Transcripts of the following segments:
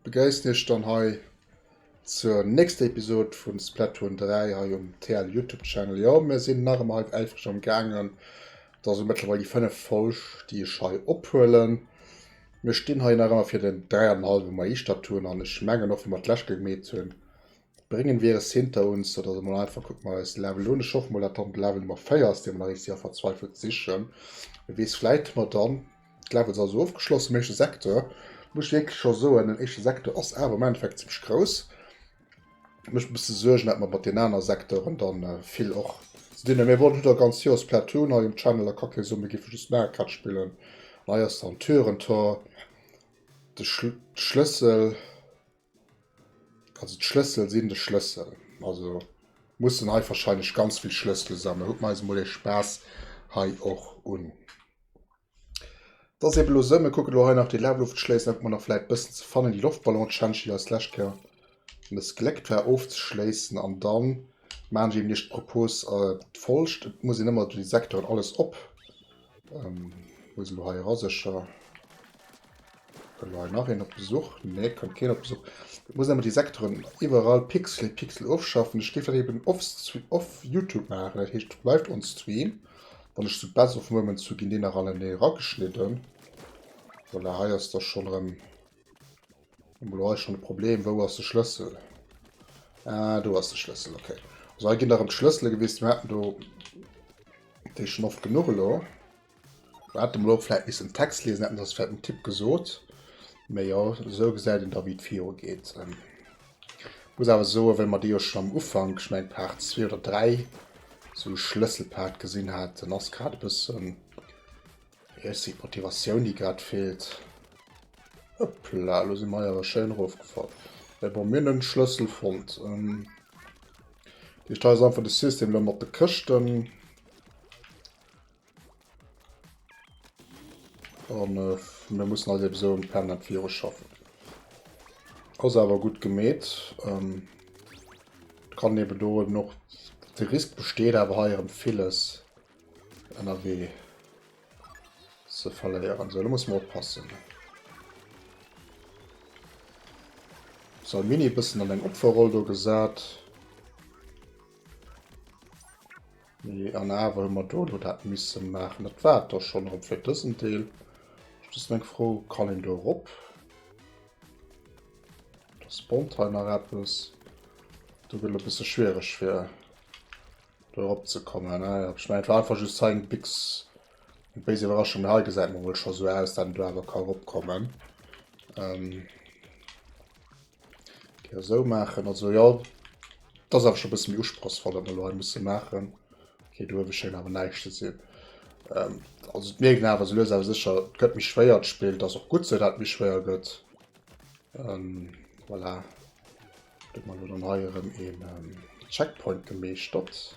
Begréissen iech dann hei zur nächster Episode vun Splatoon 3 hei um TL Youtube Channel. Jo mir sinn nach emmer hei äifreg am gaangen, et ass lo mëttlerweil déi fënneft Folg déi ech hei ophuelen. Mir stinn hei nach ëmmer fir den 3 an en hallwe Maisstadtun an ech mengen och wéi mer d'lescht Kéier gemeet hunn, bréngen wir es hinter uns, sou dass emol einfach kucke mer eis Level un. Ech hoffen mol dat dann de Level Nummer 4 ass dee mer nach eng Séier verzweifelt sichen. Wie weess, vläit hu mer dann d'Levels also ofgeschloss am éischte Secteur. Muss ech wierklech scho soen, den éischte Secteur ass awer am Endeffekt zimmlech grouss. mech e bësse Suergen, dat mer mat den aner Secteuren dann äh, vill och ze dinn hunn. Mir wollen hudder ganz Joer Splatoon hei um Channel a Cocktail Summe gi fir just Mario Kart spillen. An hei ass dann Türentor, de Schl Schlëssel, also d'Schlëssel sinn de Schlëssel. Also mussen hei wahrscheinlech ganz vill Schlëssel sammeln. Huet mir eis mol ee Spaass hei och un. Dass eben elo se, mir kucken elo hei nach déi Laluftschléissen, ob mer nach vläit bëssen ze fannen, déi Loftballonschentschille eis d'lescht Kéier mëssgléckt war ofzeschléissen. An da maachen ech eben Iech d'Propos d'follgst, Et muss een ëmmer déi Secteuren alles op, wou ass en elo hei era, sécher, kënnt elo hei nach een op Besuch, nee kënnt keen op Besuch, et muss een ëmmer déi Secteuren iwwerall Pixel, Pixel ofschaffen. Ech géif dat eben off Youtube maachen, dat heescht live on stream. Wann ech zu Best of Moments zu ginn dee nach alle nee rageschnidden. Voilà, hei ass der schon rem. Emol hei schon de Problem, wou ass de Schlëssel? Ah, do ass de Schlëssel, okay. Also hei ginn der rem Schlëssele gewist, mir hatten do dee schon oft genuch elo. Mir hatten emol fläit missen Text lesen, hätten ass fläit en Tipp gesot. Mee jo, esou gesäit en da wéi et viru geet. Muss awer soen, well mer dee jo schonn am Ufank, ech mengen Part zwee oder dräi, esou e Schlësselpart gesinn haten, ass grad e bëssen, wéi heescht se, d'Motivatioun, déi grad feelt. Hëppla, elo si mer awer schéin erofgefall. Mä bon, mir hunn en Schlëssel fonnt. Dee Teil ass einfach de System elo mat de Këschten. An äh, mir mussen halt eben so um Planet Virus schaffen. Ass awer gutt gemeet. Ähm, kann eben do eben noch de Risk besteet awer hei erem villes ënnerwee ze verléieren. So, da muss man oppassen. So, Mini bëssen an eng Opferroll do gesat. Mee an awer hu mer do elo dat misse maachen. Dat war et da schonn erëm fir dësen Deel. Ech just eng Fro, Kann een do erop? Da spawnt hei nach eppes. Do gëtt et e bësse schwiereg fir do erop ze kommen. Ah ja, ech mengen et war einfach just hei eng Bix, eng béis Iwwerraschung. Mee hei gesäit mer wuel scho sou aus, dat een do awer ka eropkommen. Ähm. Okay, so machen also ja das ist einfach schon ein bisschen usprochsvoll an der muss machen okay du schön aber nicht zu sehen ähm, also mir genau was lösen aber sicher gött mich schwer spielt das auch gut so dat mich schwer gött ähm, voilà mal oder neuerem in ähm, checkpoint gemäht statt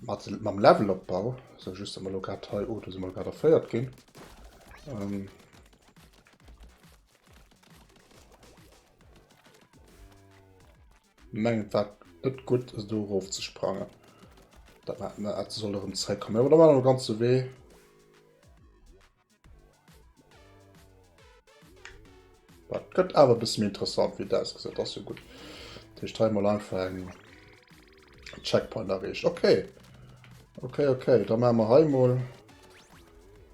Mat, mam Levelopbau, so just dass mer lo grad hei, oh do si mer grad erféiert ginn. Ähm, mengen wat net gutt ass do erof ze sprangen. Dat soll erëm zréckkommen. Oder war ganze Wee. Dat gëtt awer bis mir interessant wie das gesat as jo gut Dich teil mal einfach eng Checkpoint errecht okay okay okay da ma mer heimol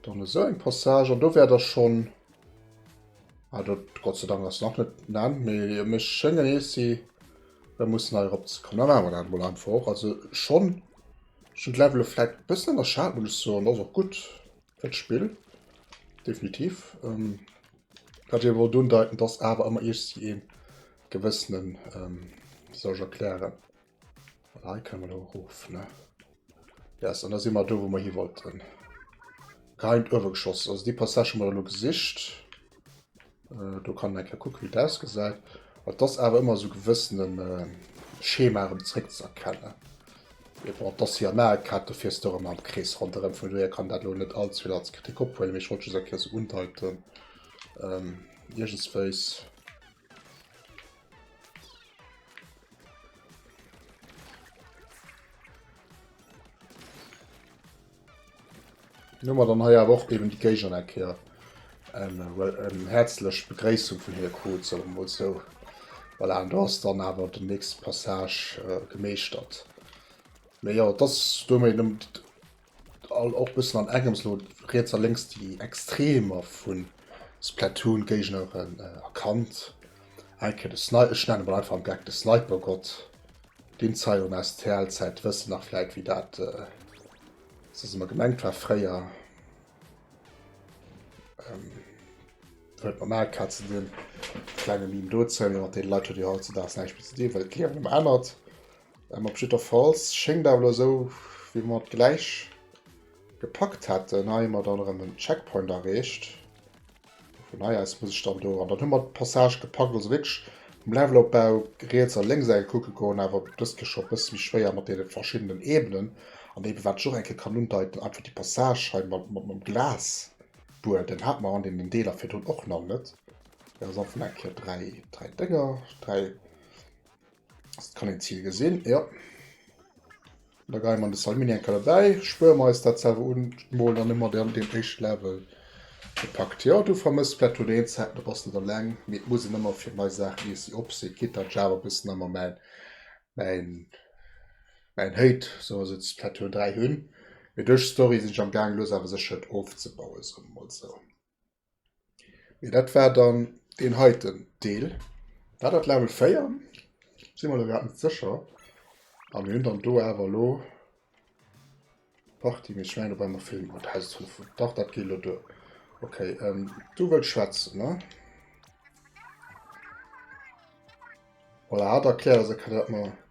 dann eso eng Passage an do wär der schon ah, dat Gott sei Dank ass nach net na mé mech schenngen ees si da muss nei op ze kommen awer dat mo einfach och also schon schon Level flat bëssen der Schaden so an ass och gut. et Spill definitiv wat ech wollt undeiten, dass awer ëmmer Iech si een gewëssenen ähm, soll ich erklären Hei kann man hof ne yes, an da si mat do wo man hi wollten Geheim uewe geschoss also déi Passage mat lo gesicht. Do kann een eng Kéier kucke wéi et ausgesäit. Et ass awer ëmmer esou gewëssene Schema erëm zréckzëerkennen. Mee bon, et ass hir Maekart, do fiers de erëm am Krees ronderëm. Vun dohier kann dat elo net allzevill als Kritik ophuelen, mee ech wollt just eng Kéier esou undeiten iergendswéis. Dann hu mer dann hei awer och eben déi Géigner eng Kéier eng häerzlech Begréissung vun hinne krut, soe mer mol sou. Voilà, an do ass dann awer den nächste Passage gemeeschtert. Mee jo, et ass domat eben och e bëssen an engems elo riets a lénks déi Extremer vu Splatoon-Géigneren erkannt. Eng Kéier de Sni-, ech nenne mol einfach am Geck de Snipergott. Deen Zayon STL Zäit wëssen nach vläit wéi dat soss ëmmer gemengt war fréier huet mat Mario Kart ze dinn. Klenge Meme dozou, mee mat deene Leit huet jo hautzedags näischt méi ze dinn, well d'Liewen ëmmer ännert. Op jiddwerfalls schéngt awer elo esou wéi mat gläich. Gepackt hätten. Hei hu mer dann erëm en Checkpoint erreecht. Vun hei aus muss ech dann do. An dann hu mer d'Passage gepackt. Also wierklech um Levelopbau riets a lénks eng Kéier kucke goen. Awer dëst gi scho e bësse méi schwéier mat deene verschiddenen Ebenen. An ebe wat ech och eng Kéier kann undeiten, einfach déi Passage hei mat dem Glasbuedem hat mer an deenen Deeler virdrun och nach net. Mir si am Fong eng Kéier dräi Dénger, dräi. Das kann ein Ziel gesehen, ja. Da gehe man das Aluminium dabei, spüren wir uns das selber und malen dann immer den, den ersten Level gepackt. Ja, du vermisst vielleicht nur den Zeit, da bist du dann lang. Mit muss ich immer für neue Sachen, die sie absehen, geht dann Java ein bisschen immer mein, mein, mein Hate, so ist es vielleicht nur drei Hühn. Mit durch Story sind ich am Gang, los aber sicher aufzubauen, so mal so. Mee dat war dann deen heiten Deel. War dat Level 4? Si mer elo grad net sécher. A mir hunn dann do awer elo Party, mee ech mengen dobäi mer filmen. Oh, Haus ass voll vu. Dach dat geet elo duer. Okay, ähm, du wëlls schwätzen, ne? Voilà, hat erkläert, dass et kann dat mer.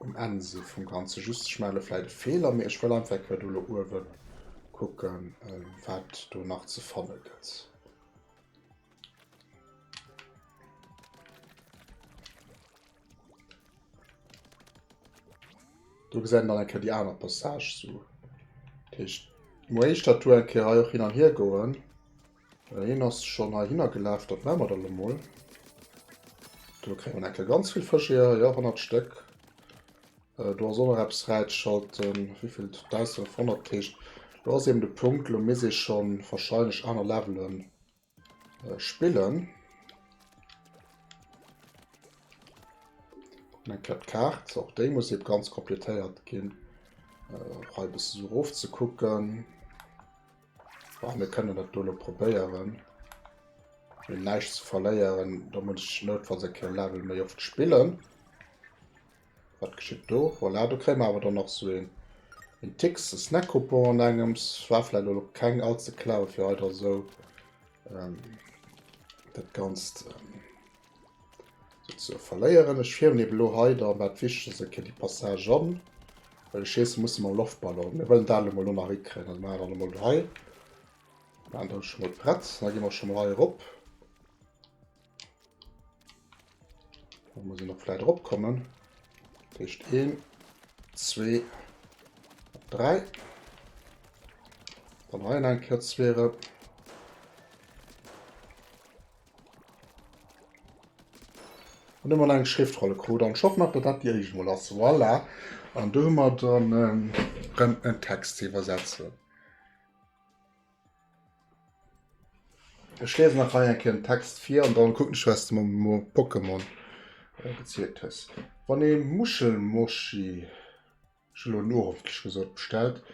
Um Enn si vum Ganze just d'Schmelle vläit e Feeler, mee ech wëll einfach eng Kéier do elo uewe kucken, wat do nach ze fanne gëtt. Do gesäit een dann eng Kéier déi aner Passage. Sou, dat heescht, muer éischter d'Tour eng Kéier hei och hin an hiergoen. Well hien ass schonn heihinner gelaf, dat maache mer dann elo mol. Do kréie mer enke ganz vill Fësch hier, jo, 100 Stéck. Do ass och nach eppes fräigeschalten, wéi vill? 1500. Dat heescht, do ass eben de Punkt, elo misst ee scho warscheinlech aner Levele spillen. Kucken eng Kéier d'Kaart, och déi muss ebe ganz completéiert ginn, fir e bëssen erof ze kucken. Bon, mir kënnen dat do elo probéieren. Mir hunn näischt ze verléieren, da muss ech noutfalls eng Kéier Level méi oft spillen. Wat geschitt do? Voilà, do kréie mer awer dann nach sou een en Tick, e Snack-Coupon an engems. War vläicht elo keng all ze clever, fir hei da sou dat Ganzt So, verléieren. Ech fierwen eben elo hei da mat Wichtegst e kéint déi Passage an, well ech schiessen musse mam Loftballon. Mir wëllen dat elo mol do nach hikréien. Also maache mer dat emol do hei. Maachen dat scho mol prett. Da gi mer scho mol hei erop. Da muss een och vläit eropkommen. Dat heescht een, zwee, dräi. Dann hei en enker zwee erop. An ëmmer eng Schriftrolle krut an Schock nach, datt dat déi éischt mol ass. Voilà. An do hu mer dann rëm en Text ze iwwersetzen. Ech liesen nach hei eng Kéier den Text vir an dann kucken ech, wat s de mer mam Pokémon gezielt hues. Wann ee Muschelmoschi, ech hu elo en ueroflech gesot, bestellt,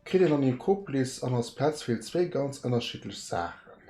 kritt een an hir Koplis an als Petzvill zwee ganz ënnerschiddlech Saachen.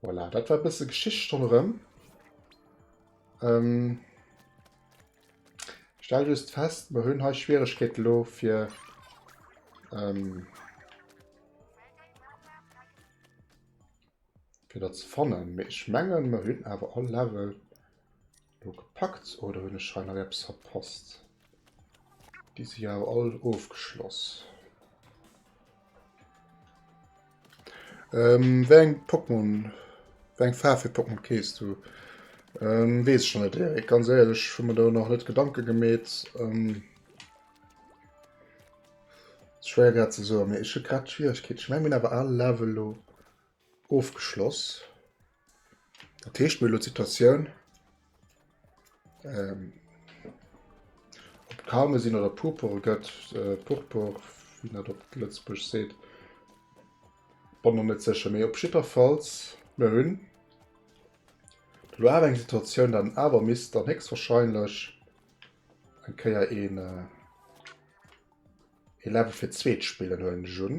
Voilà, dat war bësse Geschicht ronderëm. Ähm, stell just fest, mer hunn hei Schwieregkeet lo fir ähm, fir dat ze fannen. Mee ech mengen, mer hunn awer all Level. Lo gepackt oder hunn ech hei nach eppes verpasst? Déi si jo awer all ofgeschloss. Ähm, wéi eng Pokémon, wéi eng Faarf fir Pokémon kees du? Ähm, wees ech net, Erik, ganz ehrlech, hu mir do nach net Gedanke gemeet. Ähm, schwer grad ze soen, mee ech hu grad Schwieregkeet. Ech meng mir hunn awer all Level lo ofgeschloss. Dat heescht mir lo d'Situatioun ähm, op Karme sinn oder Purpure gëtt, äh, Purpur, wie net op Lëtzbusch seet, wann man net secher méi op Jitterfalls mir hunn lo awer eng Situatioun, dann awer misst dann héchstwahrscheinlech eng Kéier een äh, ee Level fir d'zweet spillen, huelen ech un.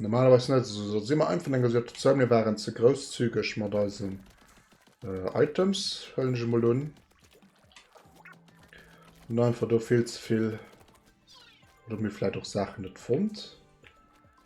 Normalerweise net so, so immer einfach en gesagt so, mir waren ze grousszügig mat eisen äh, Items höllen ich mal un. Und einfach do viel zu viel oder mir vielleicht auch Sachen net fand.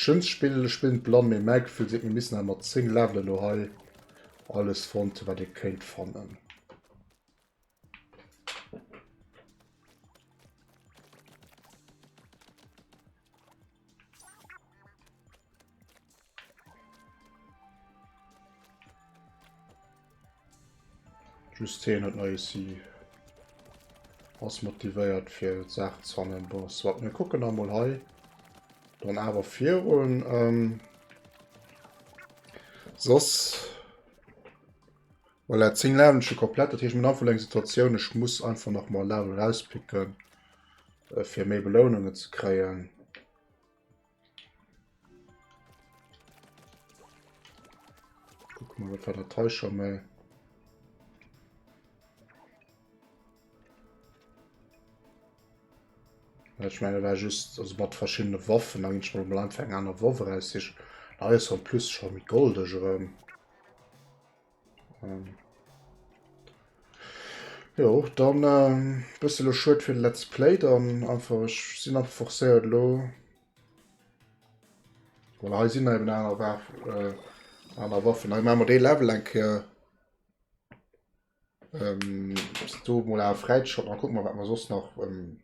Schënns spillen ech spillen blann mee mäi Gefühl seet mir missen awer mat 10 Level elo hei alles fonnt hun wat ee kéint fannen. Just heen huet neie Scie, ass motivéiert fir Saachen ze hannen. Bon, soit, mir kucken da mol hei dann awer virun. Ähm, soss voilà, 10 Leveln schon komplett, dat heescht mir einfach eng Situatioun, ech muss einfach nach mal Level rauspicken, äh, fir méi Belounungen ze kréien. Guck mal, was war der Täuscher mal. Ich meine, war just also mat verschiedene Waffen an schon mal anfang an der Waffe raus. Ich, da ist plus schon mit Gold. Ich, ähm, Ähm. Jo, dann ähm, bësse lo schued fir Let's Play, dann einfach ech sinn einfach forcéiert lo. Voilà, hei sinn eben aner Waff, äh, aner Waffen. Hei ma mer dee Level eng Kéier. Ähm, do mol a Fräitschott, an kuck mal wat mer soss nach ähm,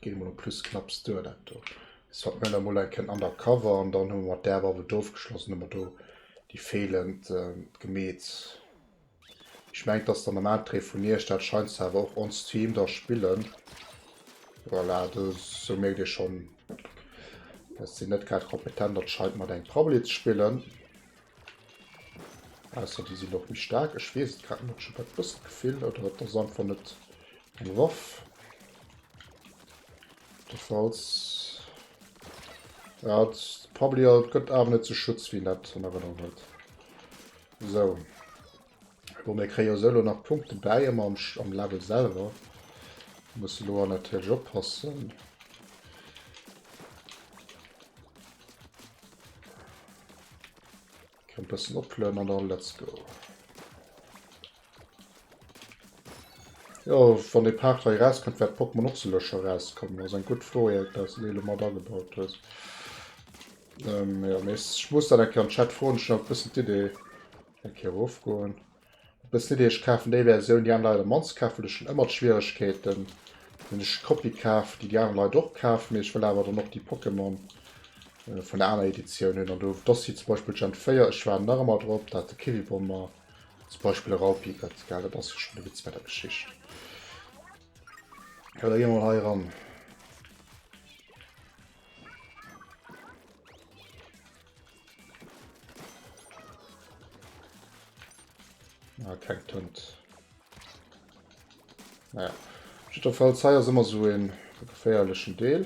Gei mol op plus knapps duer dat do. Jetzt hat mir da mol eng Ken undercover an dann hun mat der Waffe do geschlossen immer do die fehlend äh, gemeet. Ich mengt dass der normal Dreh vun iech dat scheinst du awer och on Stream da spillen. Voilà, do so merkt dir schon dass sie net grad kompetent dat scheint mat eng Prabbeli ze spillen. Ausser déi sinn och méi staark. Ech weess et grad net, ech hu grad e bëssen d'Gefill, oder et ass einfach net eng Waff. Falls ja, probably gëtt awer net ze Schutz wéi net an Erënnerung huet. Sou. Bon, mir kréie se elo nach Punkte bäi am, am Level selwer. Muss elo an natierlech oppassen. Kann bessen opflöen an dann let's go. Jo, wann de Part hei rauskënnt, wäert d'Pokémon och selëscher rauskommen. Ass eng gutt Fro, Erik, dass du déi elo mat agebaut hues. Ähm, ja, mais ech muss dann eng Kéier an Chat froen, ech hunn awer bëssen d'Idee, Eng Kéier erofgoen. Et bléist net, ech kafen déi Versioun, déi aner Leit am mannste kafen. Ech hunn ëmmer d'Schwieregkeeten, wann ech d'Kopie kaf, déi déi aner Leit och kafen, mee ech wëll awer dann och déi Pokémon vun der aner Editioun hunn. An do do si zum Beispill Gen 4, ech waarden nach ëmmer drop, datt de Kiwibomber zum Beispill e Raupi gëtt. Well dat ass jo schonn de Witz bei der Geschicht. Elo gi mer mol hei eran. Ah, kein Tund. Naja. Auf jeden Fall, das hier ist immer so ein gefährlichen Deel.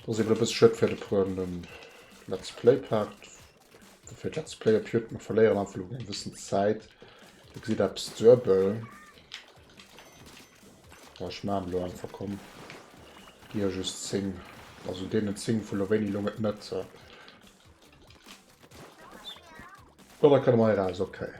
Das ist eben ein bisschen schön für den Let's Play-Part. Dofir hat Let's Play op Youtb mer verléieren einfach lo eng bëssen Zäit. Dir gesitt eppes duebel. Bon ech maachen elo einfach komm. Gi jo just 10. Also deenen 10 vu lo wéini elong et net. Bon da kënne mer hei raus, okay.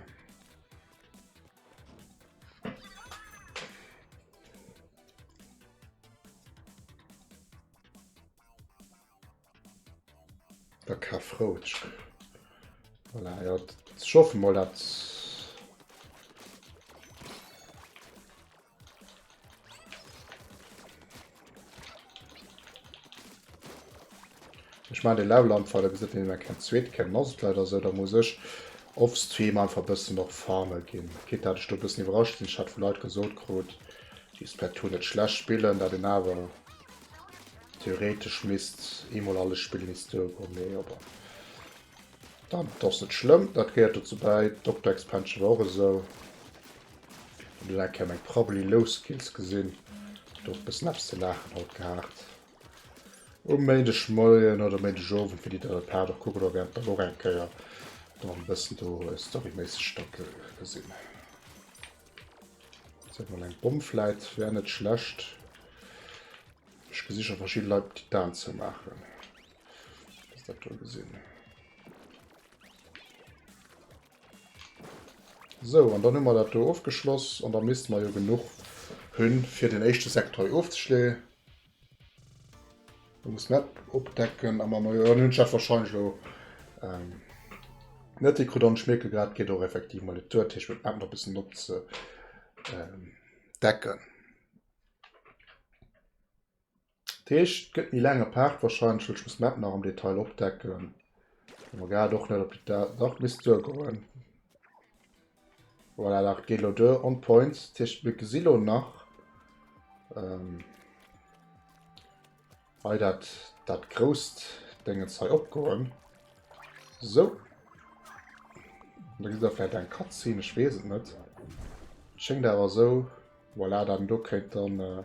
Der Kafroutsch. Voilà, ja, ich hoffe mal, dass Ich meine den Level am Fall gesagt, den kein zweet kennen ass leider so da muss ich off Stream einfach bisschen noch farme gehen. Geht dat ich bisschen überrascht sind hat vu Leiit gesot krut die Splatoon net schlecht spielen da den awer Theoretesch misst eemol alles Spill nees duergoen, mee jo bon. Dann ass net schlëmm, dat gehéiert dozou bäi. D'Dokter Expansion war och esou. Hunn dunn eng Kéier meng Probably Low Skills gesinn, do e bëssen eppes ze laachen haut gehat. Um Méindegmoien oder Méindegowend, wéi déi dann e Part och kucke goe wäerten, dann och eng Kéier dann e bëssen do storyméisseg da gesinn. Seet mol eng Bomm fläit wär net schlecht. Ech gesi scho verschidde Leit Titan ze maachen. Ass dat do gesinn. So an dann hu mer dat do ofgeschloss an da misste mer jo genuch hunn, fir den éischte Sektor hei ofzeschloen. Muss net opdecken am Majoor dann hun ech wahrscheinlich lo ähm, net déi krut an schmierke grad geht och effektiv mal Tour Tisch mit App bis op ze ähm, decken Tisch gëtt nie lange Part wahrscheinlich ich muss Map nach am Detail opdecken gar doch net op die Dach bis zu goen. Voilà, dat geet elo duer on point. Dat heescht, mir gesi lo nach hei dat grousst Déngens hei opgoen. Sou. Da gesi mer vläicht eng Cutscene, ech weess et net. Et schéngt awer esou. Voilà, dat do kéint dann...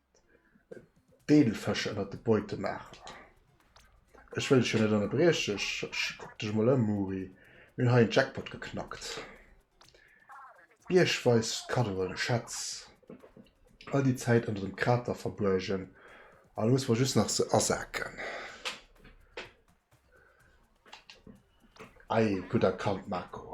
Deel Fësch ënnert de Beute maachen. Ech wëll dech jo net ënnerbrieche. Ech kuck dech emol ëm, Muri. Mir hunn hei en Jackpot geknackt. Biergweis Kaddoen, Schätz, all déi Zäit ënnert dem Krater verbuergen. An elo musse mer just nach se asaken. Ei, gutt erkannt, Marco.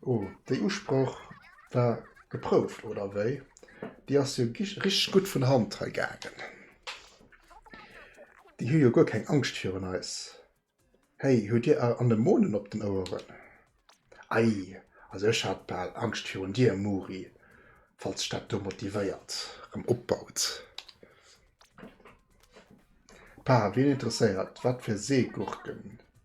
Oh, déi Usproch war geprouft, oder wéi? Déi ass jo richteg gutt vun Hand hei gaangen. Déi hu jo guer keng Angscht virun eis. Hey, huet dir Anemonen op den Oueren? Ei, also ech hat bal Angscht virun dir, Muri, falls dech dat do motivéiert, rëm opbaut. Pa, wien interesséiert, wat fir Seegurken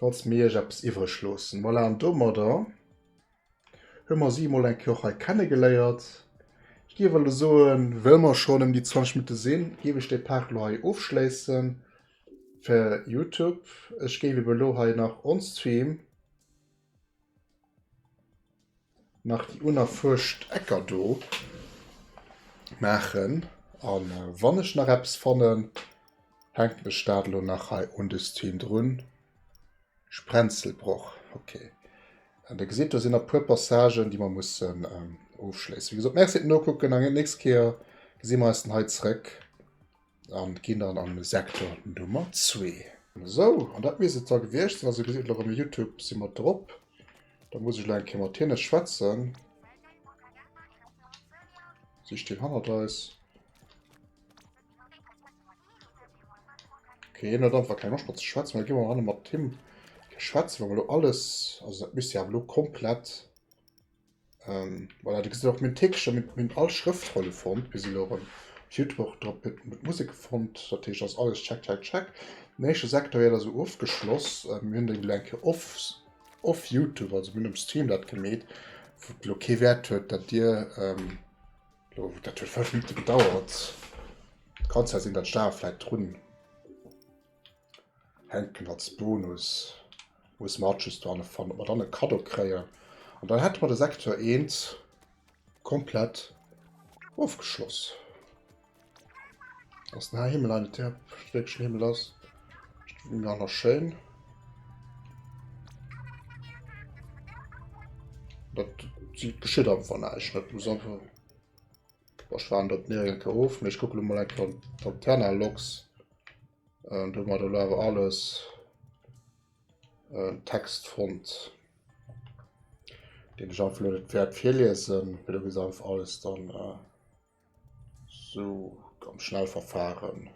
Falls mir iech eppes iwwreg loossen. Voilà, an domadder hu mer si emol eng Kéier och hei kennegeléiert. Ech géif elo soen, well mer schonn ëm déi 20 Minutte sinn, géif ech de Part elo hei ofschléissen fir Youtube. Ech géif eben elo hei nach onstream. Nach déi unerfuerscht Ecker do maachen a wann ech nach eppes fannen, hänken ech dat elo nach hei un de Stream drun. Sprenzelbroch, ok. An Dir gesitt, do sinn nach e puer Passagen, déi mer mussen ofschléissen. Wéi gesot, Merci fir d'Nokucken an déi nächst Kéier gesi mer eis dann hei zréck. An gin dann am Secteur Nummer 2. Sou, an dat misst et da gewiecht sin. Also dir gesitt elo rem, Youtube si mer drop. Da muss ech elo eng Kéier mat hinne schwätzen. Si stinn hannert eis. Okay, hien huet einfach keng Loscht mat ze schwätzen. Da gi mer hanne mat him schwätzen, wa mer elo alles. Also dat misst jo awer elo komplett. Ähm, voilà, du gesinn och minn Téckcher, minn, minn all Schrëftrolle fonnt, bis elo rëm. Op Youtube och drop mit, mit Musik fonnt, dat heescht ass alles check, check, check. Den éischte sektoriell ass eso ofgeschloss, äh, mir hunn den elo eng Kéier off, off Youtube, also mir hunn um Stream dat gemeet, wou et elo kee Wäert huet, dat dir, ähm, lo, dat huet 5 Minutte gedauert, kann zwar sinn, dat d'Steuer vläit drun. Hänken als Bonus muss mer just do hanne fannen, ob mer dann e Kado kréien. An dann hätte mer de Sektor 1 komplett ofgeschloss. Ass den Himmel an der Steckchen Himmel ass. Nach nach schön. Dat geschitt einfach neich net muss einfach. Ech waren dat mir enke of, mech kucke mal enke Lanterne Loks. Ähm, do mat lo awer alles ähm, Text fond dem Jean Fleur Pferd virliesen, fir du ges einfach alles dann äh, so am Schnellverfahren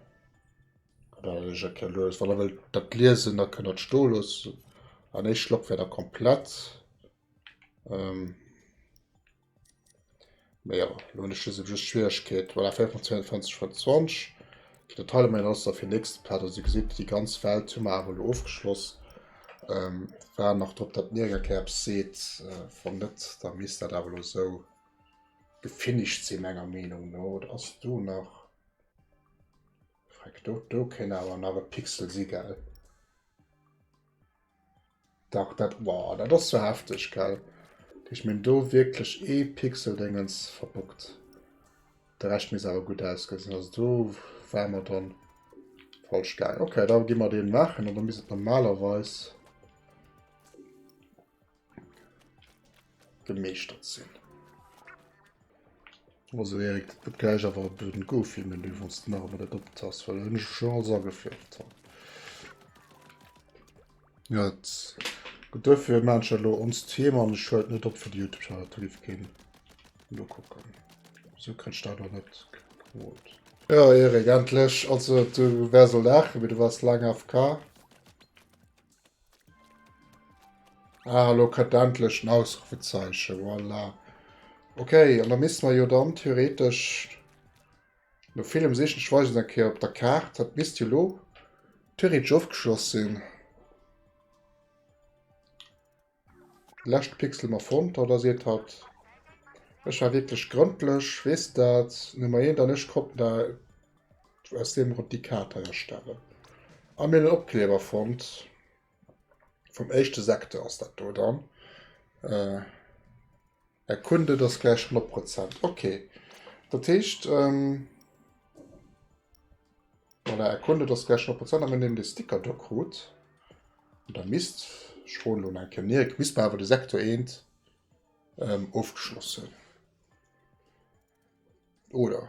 los wann will dat lesen da können sto los an ich schlopp wieder komplett ähm, Mee jo, lo hunn ech just just d'Schwieregkeet, voilà 24 vun 20. Déi Detailer maache mir dann fir den nächsten Part. Also Dir gesitt, déi ganz Welt hu mer awer lo ofgeschloss. Ähm, waren nach drop, datt mir eng Kéier eppes seet. Äh, wann net, da misst dat awer lo sou gefinished sinn menger Meenung no. Oder ass do nach. Freck, do, do kéint awer nach e Pixel si, gell? Dach dat, wow, dat ass jo hefteg, gell? Ech meng do wierklech ee Pixeldéngens verbuggt. De Rescht misst awer gutt ausgesinn. Also do war mer dann falsch gaangen. Okay, da gi mer deen maachen an da misst et normalerweis gemeeschtert sinn. Also Erik, dat gëtt gläich awer e blöden Go-Film-Menü, wann s de nach emol dat op d'Tass, well dat hunn ech mech schonn alles ageféiert hei. Jo, et gëtt duerfir maachen ech dat elo ons d'Theme an ech huelen et net op fir de Youtube-Channel, dat giff keen elo kucken. Esou kréich ech dat och net gepromot. Jo Erik, endlech. Also du waars elo laachen, mee du waars laang AFK. Ah, lo kët der endlech en Ausrufezeichen, voilà. Okay, an da misste mer jo dann theoretesch, no villem sichen, ech weisen eng Kéier op der Kaart, dat misst jo lo theoretesch ofgeschloss sinn. Lescht Pixel mer fonnt oder seet hatt ech war wierklech grëndlech, weess dat, mee Maient an ech konnten da aus deem Grond déi Kaart hei erstellen a mir hunn en Opkleber fonnt vum éischte Secteur ass dat do dann. Är Kunde, dass gläich 100 Prozent. Okay. Dat heescht, ähm, voilà, Är Kunde, dass gläich 100 Prozent, a mir nehmen de Sticker do krut. Und da misst, ich froen lo enke Mirk, misst mer awer de Sektor 1 ähm, ofgeschloss hunn. Oder?